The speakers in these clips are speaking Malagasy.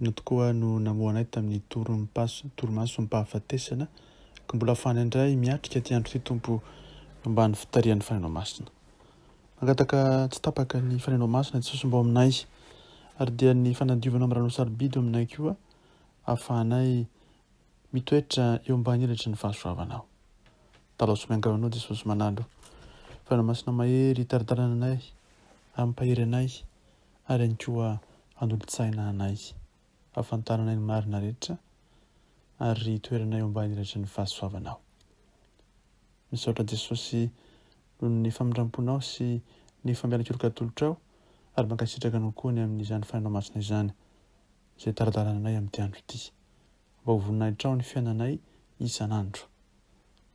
Inona tokoa no namoha anay tamin'ny torimaso, torimasom-pahafatesana? Ka mbola fany indray miatrika ity andro ity, Tompo, ambany fitarihan'ny Fanahinao Masina. Mangataka tsy tapaka ny Fanahinao Masina tsy sosombao aminay, ary dia ny fanadiovanao amin'ny rano sarobidy aminay koa, ahafahanay mitoetra eo ambany elatry ny fahasoavanao. Dalaso miangavy anao, Jesosy manalo. Fanahinao Masina mahery, taridalana anay, ampahery anay, ary ihany koa hanolo-tsaina anay hahafantaranay ny marina rehetra ary hitoeranay eo ambany ilatry ny fahasoavanao. Misaotra Jesosy noho ny famindramponao sy ny fampianakeloka atolotrao ary mankasitraka anao koa ny amin'izany fanahinao masina izany izay tara-dalana anay amin'ity andro ity mba ho voninahitrao ny fiainanay isan'andro.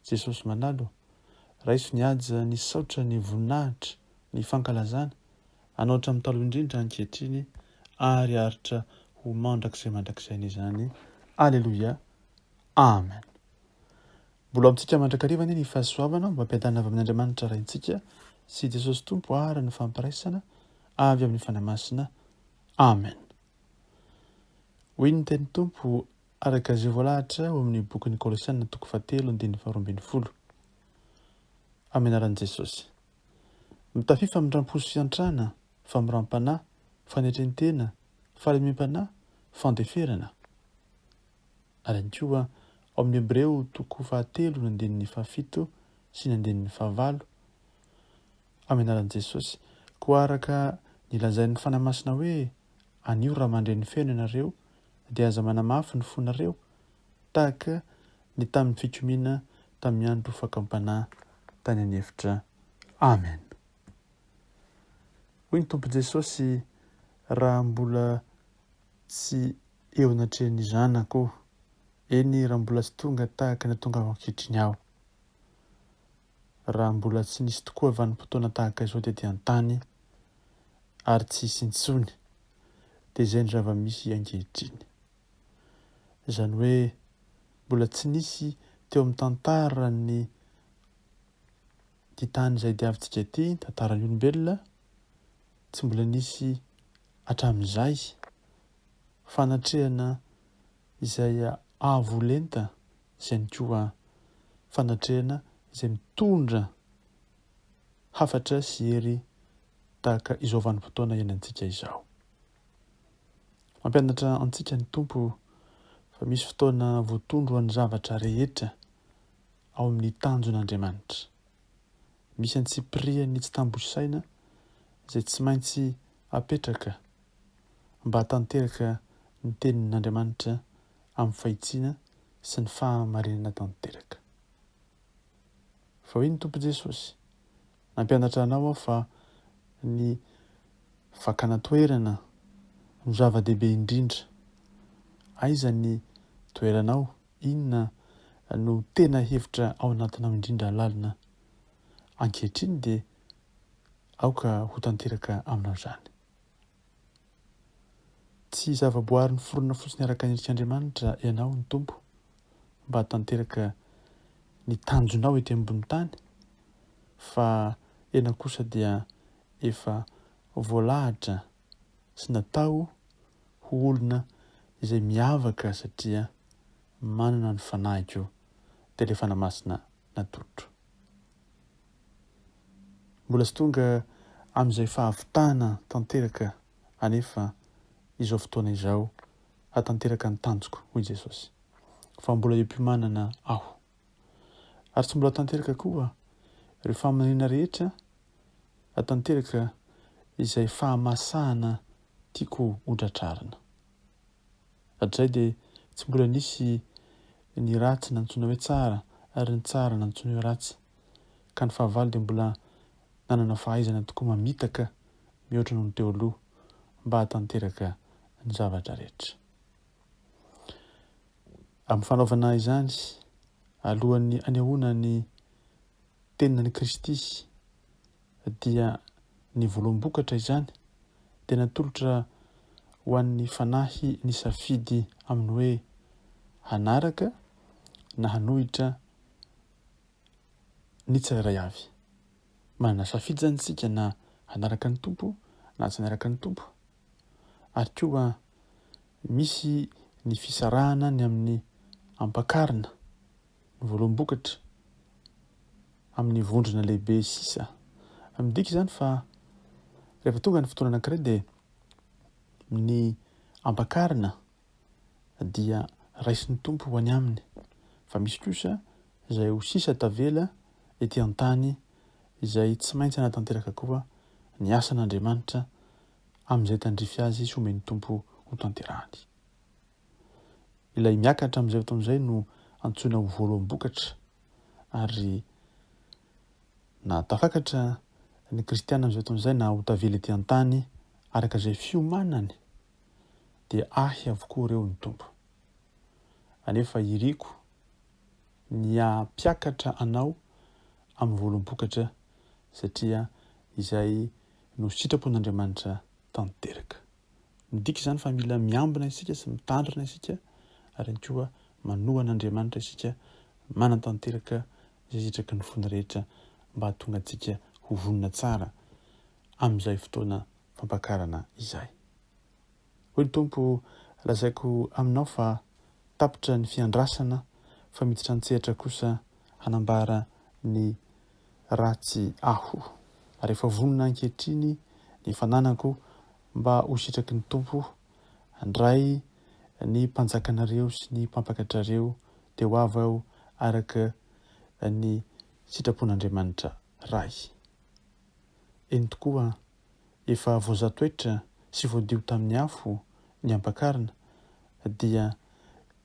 Jesosy malalo, raiso ny haja ny saotra ny voninahitra ny fankalazana, hanao hatramin'ny taloha indrindra ankehitriny ary haharitra ho mandrakizay mandrakizay anie izany. Aleloia. Amen. Mbola amintsika mandrakariva anie ny fahasoavana mba ampiadanana avy amin'Andriamanitra Raintsika sy Jesosy Tompo ary ny fampiraisana avy amin'ny Fanahy Masina. Amen. Hoy ny teny Tompo araka izay voalahatra ao amin'ny bokin'ny Kolosiana toko fahatelo andininy faharoa ambin'ny folo. Amin'ny anaran'i Jesosy. Mitafia famindram-po sy fiantrana, famoram-panahy, fanetren-tena, fahalemem-panahy, fandeferana. Ary ihany koa ao amin'ny Hebreo toko fahatelo ny andininy fahafito sy ny andininy fahavalo, amin'ny anaran'i Jesosy, koa araka ny lazain'ny Fanahy Masina hoe, Anio ry ramandreny feno ianareo, dia aza manamafy ny fonareo, tahaka ny tamin'ny fikomiana tamin'ny andro fakam-panahy tany an'efitra. Amen. Hoy ny Tompo Jesosy, Raha mbola tsy eo anatrehan'ny zanako, eny raha mbola tsy tonga tahaka ny atongavako ankehitriny aho, raha mbola tsy nisy tokoa vanim-potoana tahaka izao tety an-tany, ary tsy hisy intsony, dia izay ny zava-misy ankehitriny. Izany hoe mbola tsy nisy teo amin'ny tantaran'ny ty tany izay diavintsika ity, tantaran'ny olombelona, tsy mbola nisy hatramin'izay fanatrehana izay avo lenta, izay ihany koa fanatrehana izay mitondra hafatra sy hery tahaka izao vanim-potoana iainantsika izao. Mampianatra antsika ny Tompo fa misy fotoana voatondro ho an'ny zavatra rehetra ao amin'ny tanjon'Andriamanitra. Misy antsipiriany tsy tambo isaina izay tsy maintsy apetraka mba hatanteraka ny tenin'Andriamanitra amin'ny fahitsiana sy ny fahamarinana tanteraka. Fa hoy ny Tompo Jesosy, Nampianatra anao aho fa ny fakana toerana no zava-dehibe indrindra. Aiza ny toeranao? Inona no tena hevitra ao anatinao indrindra lalina? Ankehitriny dia aoka ho tanteraka aminao izany. Tsy zavaboary niforona fotsiny araka ny endrik'Andriamanitra ianao, ny Tompo, mba hatanteraka ny tanjonao ety ambony tany, fa ianao kosa dia efa voalahatra sy natao ho olona izay miavaka satria manana ny fanahiko, dia ilay Fanahy Masina natolotro. Mbola tsy tonga amin'izay fahavitana tanteraka anefa izao fotoana izao hahatanteraka ny tanjoko, hoy Jesosy, fa mbola eo am-piomanana Aho. Ary tsy mbola tanteraka koa ireo faminaniana rehetra hahatanteraka izay fahamasahana tiako hodratrarina. Hatrizay dia tsy mbola nisy ny ratsy nantsoina hoe tsara ary ny tsara nantsoina hoe ratsy, ka ny fahavalo dia mbola nanana fahaizana tokoa mamitaka mihoatra noho ny teo aloha mba hahatanteraka ny zavatra rehetra. Amin'ny fanaovana izany, alohan'ny anehoana ny teninan'i Kristy, dia ny voaloham-bokatra izany dia natolotra ho an'ny fanahy nisafidy amin'ny hoe hanaraka na hanohitra ny tsirairay avy. Manana safidy izany isika na hanaraka ny Tompo na tsy hanaraka ny Tompo. Ary koa misy ny fisarahana ny amin'ny ampakarina Voaloam-bokatra, amin'ny vondrona lehibe sisa. Midika izany fa rehefa tonga ny fotoana anankiray dia ny ampakarina dia raisin'ny Tompo ho any aminy, fa misy kosa izay ho sisa tavela ety an-tany izay tsy maintsy hanatanteraka koa ny asan'Andriamanitra amin'izay tandrify azy sy omen'ny Tompo hotanterahany. Ilay miakatra amin'izay fotoan'izay no antsoina ho voaloham-bokatra, ary na tafakatra ny kristiana amin'izay fotoan'izay na ho tavela ety an-tany araka izay fiomanany, dia ahy avokoa ireo ny Tompo. Anefa iriko ny hampiakatra anao amin'ny voaloham-bokatra, satria izay no sitrapon'Andriamanitra tanteraka. Midika izany fa mila miambina isika sy mitandrina isika ary ihany koa manoa an'Andriamanitra isika manatanteraka izay zitraky ny fony rehetra mba hahatonga antsika ho vonona tsara amin'izay fotoana fampakarana izay. Hoy ny Tompo, lazaiko aminao fa tapitra ny fiandrasana fa miditra an-tsehatra kosa hanambara ny raha tsy aho, ary efa vonona ankehitriny ny fananako mba ho sitraky ny Tompo, handray ny mpanjakanareo sy ny mpampakatrareo dia ho avy aho araka ny sitrapon'Andriamanitra Ray. Eny tokoa, efa voazatoetra sy voadio tamin'ny afo ny ampakarina, dia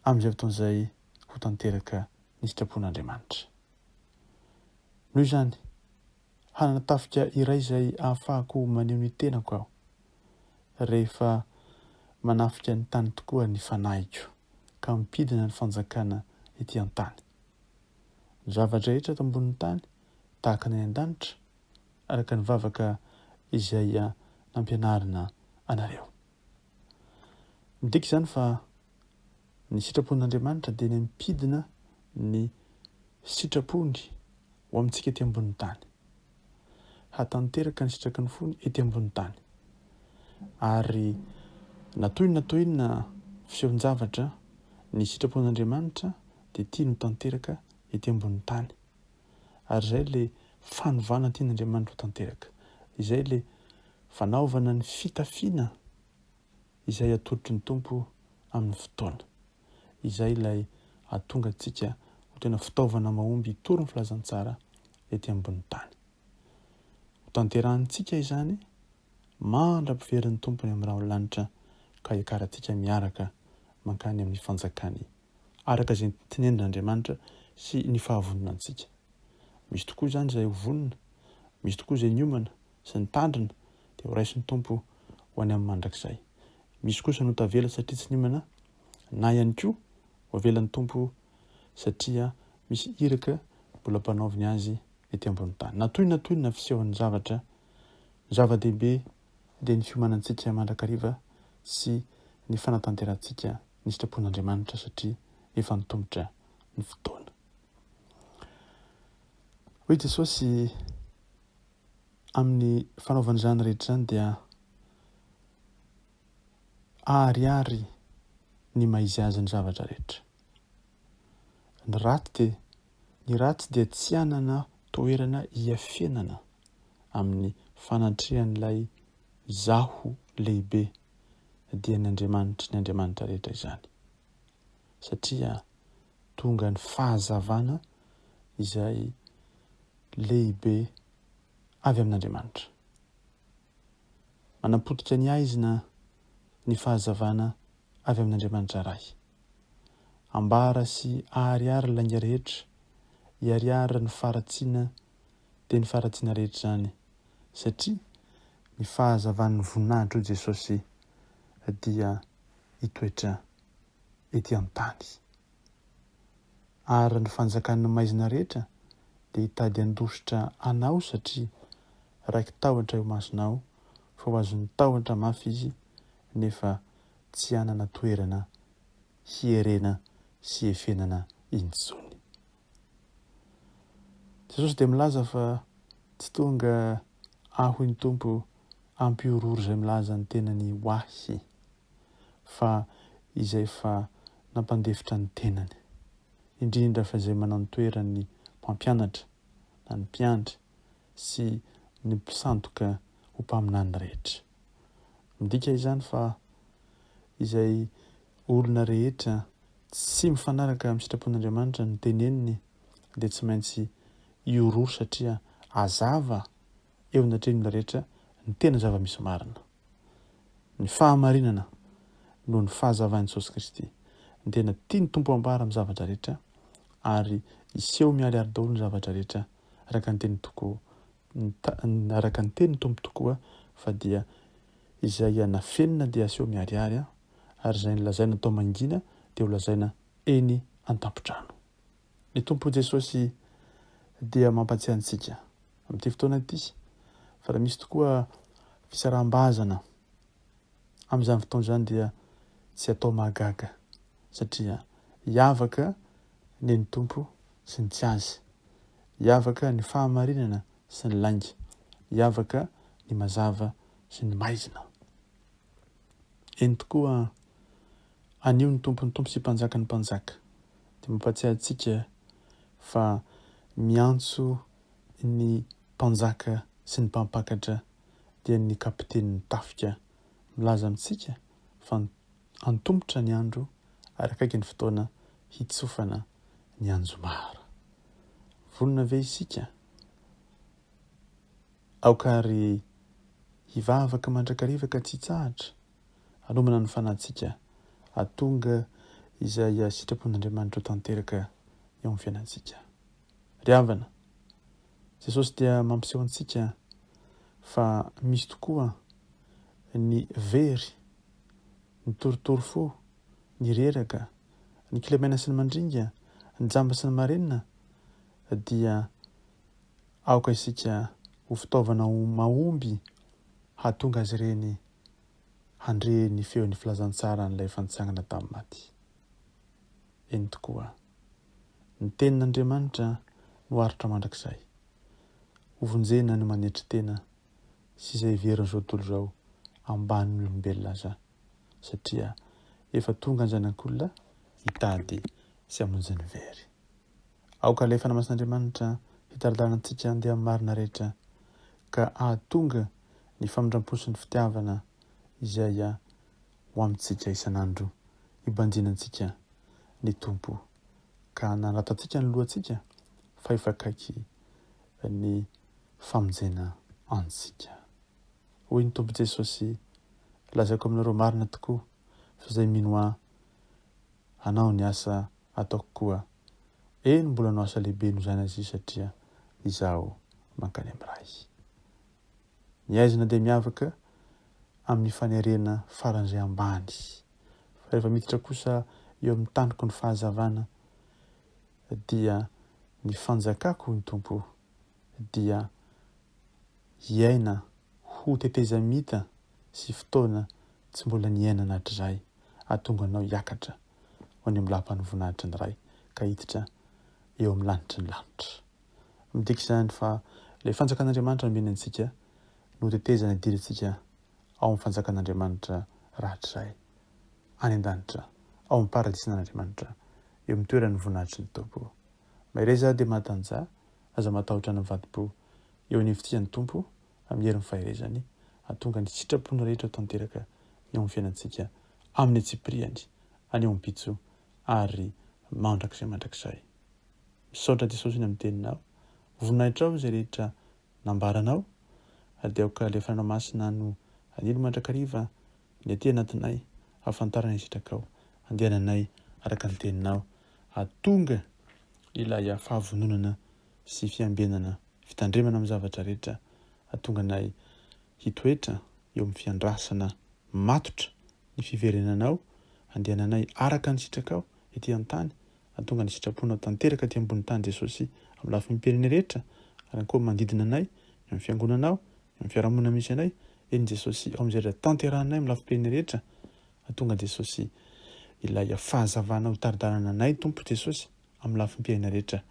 amin'izay fotoana izay ho tanteraka ny sitrapon'Andriamanitra. Noho izany, hanana tafika iray izay ahafahako maneho ny tenako aho, rehefa manafika ny tany tokoa ny fanahiko, ka mimpidina ny fanjakana ety an-tany. Ny zava-drehetra eto ambonin'ny tany, tahaka ny any an-danitra, araka ny vavaka izay nampianarina anareo. Midika izany fa ny sitrapon'Andriamanitra dia eny am-pidina ny sitrapony ho amintsika ety ambonin'ny tany. Hatanteraka ny sitraky ny fony ety ambonin'ny tany. Ary na toy na toy inona feon-javatra, ny sitrapon'Andriamanitra dia tiany ho tanteraka ety ambonin'ny tany. ary izay ilay fanovana tian'Andriamanitra ho tanteraka, izay ilay fanaovana ny fitafiana izay atolotry ny Tompo amin'ny fotoana, izay ilay hahatonga antsika ho tena fitaovana mahomby hitory ny filazantsara ety ambony tany. Hotanterahintsika izany mandra-piverin'ny Tompo any amin'ny ra ao lanitra ka hiakarantsika miaraka mankany amin'ny fanjakany araka izay nontenenin'Andriamanitra sy ny fahavononantsika. Misy tokoa izany izay ho vonona, misy tokoa izay niomana sy nitandrina dia horaisin'ny Tompo ho any amin'ny mandrakizay. Misy kosa no tavela satria tsy niomana, na ihany koa hoavelan'ny Tompo satria misy iraka mbola ampanaoviny azy ety ambony tany. Natoy natoy ny nafisehoan'ny zavatra, ny zava-dehibe dia ny fiomanantsika mandrakariva sy ny fanatanterantsika ny sitrapon'Andriamanitra satria efa nitomotra ny fotoana. Hoy Jesosy, Amin'ny fanaovana izany rehetra izany dia aharihary ny maiziazin'ny zavatra rehetra. Ny ratsy dia ny ratsy dia tsy hanana toerana hiafenana amin'ny fanatrehan'ilay Izaho lehibe, dia ny Andriamanitry ny andriamanitra rehetra izany, satria tonga ny fahazavana izay lehibe avy amin'Andriamanitra. Manapotika ny haizina ny fahazavana avy amin' Andriamanitra Ray. Ambara sy aharihary lainga rehetra, iharihary ny faharatsiana dia ny faharatsiana rehetra izany, satria ny fahazavan' ny voninahitr' o Jesosy dia hitoetra ety an-tany. Ary ny fanjakan'ny maizina rehetra dia hitady handositra anao satria raiki-tahotra eo imasonao, fa ho azon'ny tahotra mafy izy nefa tsy hanana toerana hierena sy hiefenana intsony. Jesosy dia milaza fa tsy tonga aho ny Tompo hampihorohoro izay milaza ny tenany ho ahy. fa izay efa nampandefitra ny tenany, indrindra fa izay manantoeran'ny mpampianatra na ny mpiandry sy ny mpisandoka ho mpaminany rehetra. Midika izany fa izay olona rehetra tsy mifanaraka amin'ny sitrapon'Andriamanitra no teneniny dia tsy maintsy ioroa satria hazava eo anatrehan'ny olona rehetra ny tena zava-misy marina. Ny fahamarinana noho ny fahazavain'i Jesosy Kristy. Ny tena tian'ny Tompo hambara amin'ny zavatra rehetra ary hiseho miharihary daholo ny zavatra rehetra araka ny teniny tokoa, araka ny tenin'ny Tompo tokoa fa dia izay nafenina dia aseho miharihary ary izay nolazaina tao mangina dia holazaina eny an-tampon-trano. Ny Tompo Jesosy dia mampatsiahy antsika amin'ity fotoana ity fa raha misy tokoa fisaraham-bazana amin'izany fotoana izany dia tsy atao mahagaga satria hiavaka ny ny Tompo sy ny tsy azy, hiavaka ny fahamarinana sy ny lainga, hiavaka ny mazava sy ny maizina. Eny tokoa, anio ny Tompon'ny Tompo sy Mpanjakan'ny Mpanjaka, dia mampatsiahy antsika fa miantso ny mpanjaka sy ny mpampakatra dia ny kapitenin'ny tafika. Milaza amintsika fa antomotra ny andro ary akaiky ny fotoana hitsofana ny anjomara. Vonona ve isika? Aoka àry hivavaka mandrakariva ka tsy hitsahatra Anomana ny fanantsika hahatonga izay sitrapon'Andriamanitra ho tanteraka eo amin'ny fiainantsika. Ry havana, Jesosy dia mampiseho antsika fa misy tokoa ny very, ny torotoro fo, ny reraka, ny kilemaina sy ny mandringa, ny jamba sy ny marenina, dia aoka isika ho fitaovana mahomby hahatonga azy ireny handre ny feon'ny filazantsara an'ilay efa nitsangana tamin'ny maty. Eny tokoa, ny Tenin'Andriamanitra no aritra mandrakizay. Hovonjena ny manetry tena sy izay heverin'izao tontolo izao ambanin'ny olombelona aza, satria efa tonga an-janak'olona hitady sy hamonjy ny very. Aoka ilay Fanahy Masin'Andriamanitra hitari-dalana antsika handeha amin'ny marina rehetra, ka hahatonga ny famindram-po sy ny fitiavana izay ho amintsika isan'andro hibanjina antsika ny Tompo, ka hanarato antsika ny lohantsika, fa efa akaiky ny famonjena antsika. Hoy ny Tompo Jesosy, Lazaiko aminareo marina tokoa, fa izay mino Ahy hanao ny asa ataoko koa eny mbola no asa lehibe no zaina zia satria izaho mankany am ray ny aizina dia miavaka amin'ny fanerena faran'izay ambany fa rehefa miditra kosa eo amin'ny taniko ny fahazavana dia ny fanjakako ny tompo dia hiaina ho tetezamita sy fotoana tsy mbola niainana hatrizay hahatonga anao hiakatra ho any amin'ny lapan'voninahitry ny Ray ka hiditra eo amin'ny lanitry ny lanitra. Midika izany fa ilay fanjakan'Andriamanitra nomeny antsika no tetezana idirantsika ao amin'ny fanjakan'Andriamanitra rahatrizay any an-danitra, ao amin'ny paradisin'Andriamanitra, eo amin'ny toeran'ny voninahitry ny Tompo. Mahereza dia mahatanjaha, aza matahotra ny mivadi-po eo anivontsika ny Tompo amin'ny herin'ny faherezany, hahatonga ny sitrapony rehetra ho tanteraka eo amin'ny fiainantsika amin'ny antsipiriany, anio ampitso ary mandrakizay mandrakizay. Misaotra Jesosy ny amin'ny Teninao, voninahitrao izay rehetra nambaranao, ary dia aoka ilay Fanahinao Masina no hanilo mandrakariva ny aty anatinay hahafantarana ny sitrakao, handehananay araka ny Teninao, hahatonga ilay fahavononana sy fiambenana fitandremana amin'ny zavatra rehetra hahatonga anay hitoetra eo amin'ny fiandrasana matotra ny fiverenanao handehananay araka ny sitrakao ety an-tany hahatonga ny sitraponao tanteraka aty ambony tany Jesosy amin'ny lafiny perene rehetra ary ankoa manodidina anay eo amin'ny fiangonanao eo amin'ny fiarahamonina misy anay eny Jesosy ao amin'izay rehetra tanterahanay amin'ny lafi-perene rehetra hahatonga Jesosy ilay fahazavanao hitari-dalana anay Tompo Jesosy Amin'ny lafim-piaina rehetra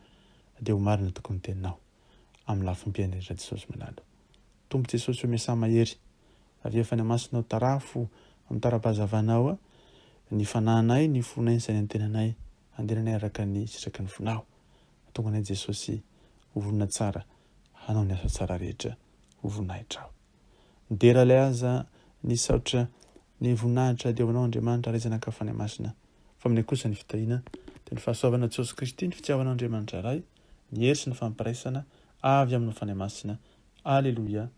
dia ho marina tokoa ny teninao Amin'ny lafim-piaina rehetra Jesosy malalo Tompo Jesosy o Miasà mahery Avefa ny Masinao Tarafo amin'ny tara-pahazavanao Ny fanahinay Ny fonay Ny sainay Ny tenanay Andehananay araka ny sitraky ny fonao Atonganay Jesosy Ho vonona tsara Hanao ny asa tsara rehetra Ho voninahitra aho. Midera ilay aza Nisaotra ny voninahitra ady ho anao Andriamanitra Ray Zanaka ary Fanahy Masina Fa aminay kosa ny fitahiana Dia ny fahasoavana Jesosy Kristy Ny fitiavana Andriamanitra Ray Ny hery sy ny fampiraisana Avy aminy Fanahy Masina Aleloia Amen.